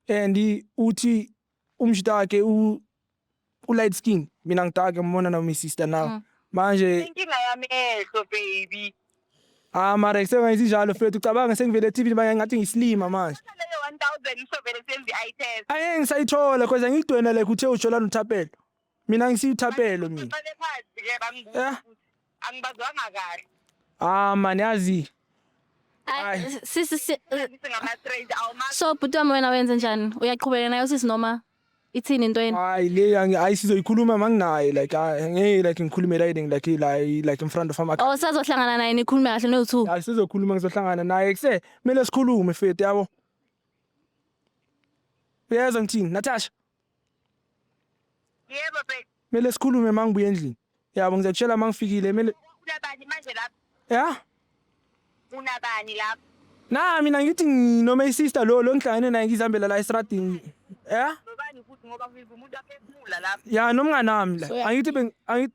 and uthi umshita wakhe u u-light skin mina ngidake ngibona noma i-sister now Mm. manje inkinga yami ehlo baby ah mara kusengayithi njalo mfethu ucabanga sengivele eTV manje ngathi ngisilima manje leyo 1000 isovele senze i-test angeke ngisayithola cause angikudwena like uthe ujola nothapelo mina ngisiyi thapelo mina Ngicele phansi ke bangibuza Eh. ukuthi angibazwanga kahle ah man yazi Ay, Ay. sisi si, ngithi ngama strange awumazi so bhuti wami wena wenze njani uyaqhubeka nayo sisi noma ithini into yenu hayi le angi- hayi sizoyikhuluma manginaye like ah, ngeke like ngikhulume riding like la like in front of ama oh sazohlangana naye nikhulume kahle no2 hayi sizokhuluma ngizohlangana naye kuse kumele sikhulume fethu yabo uyezwa ngithini natasha Yebo babe. Kumele sikhulume mangibuye endlini. Yabo ngizakutshela mangifikile kumele Unabani manje lapho? Yeah. Unabani lapho? Na mina ngithi ngi- noma isister lo lo ngihlangene naye ngizihambela la estradini. Yeah. Nobani futhi ngoba ngizwa umuntu aphefumula lapho. Ya nomngane wami la. So, ya- Angithi beng angithi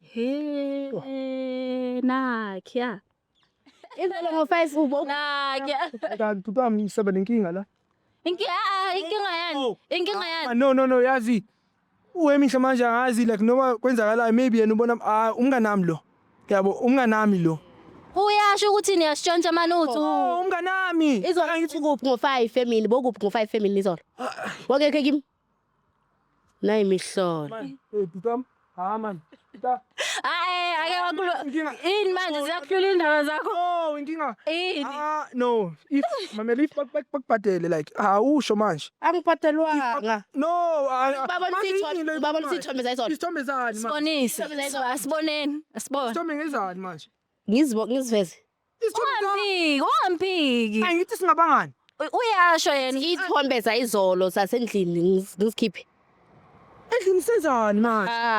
He nakya. Ivele ngoface ubo. Nakya. Kanti ubami ngisaba nenkinga la. Inkinga ah, ah, inkinga yani. Oh. Inkinga yani. Ah, no no no yazi. Uwemihle manje angazi like noma kwenzakalayo maybe yena ubona ah umngane nami lo. Yabo umngane nami lo. Uyasho ukuthi niyasitshontsha manuthu. Oh, umnganami. Izolo ngithi kuphi ngo-5 family, bokuphi ngo-5 family izolo. Wangekhe kimi. Nayi imihlolo. Hayi ake wakulo. Ini manje ziyakuhlula indaba zakho? Oh, inkinga. Ini? Ah, no. If mamela if bakubhadele like awusho manje. Angibhadelwanga. No, Baba nisitho, baba nisithombe zayizona. Isithombe zani manje? Sibonise. Asiboneni. Asibone. Isithombe ngezani manje? Ngizibonge ngiziveze. Ungampiki, ungampiki. Angithi singabangani. U- Uyasho yena. Iy'thombe zayizolo zasendlini ngis- ngisikhiphe. Endlini senzani manje? Ah.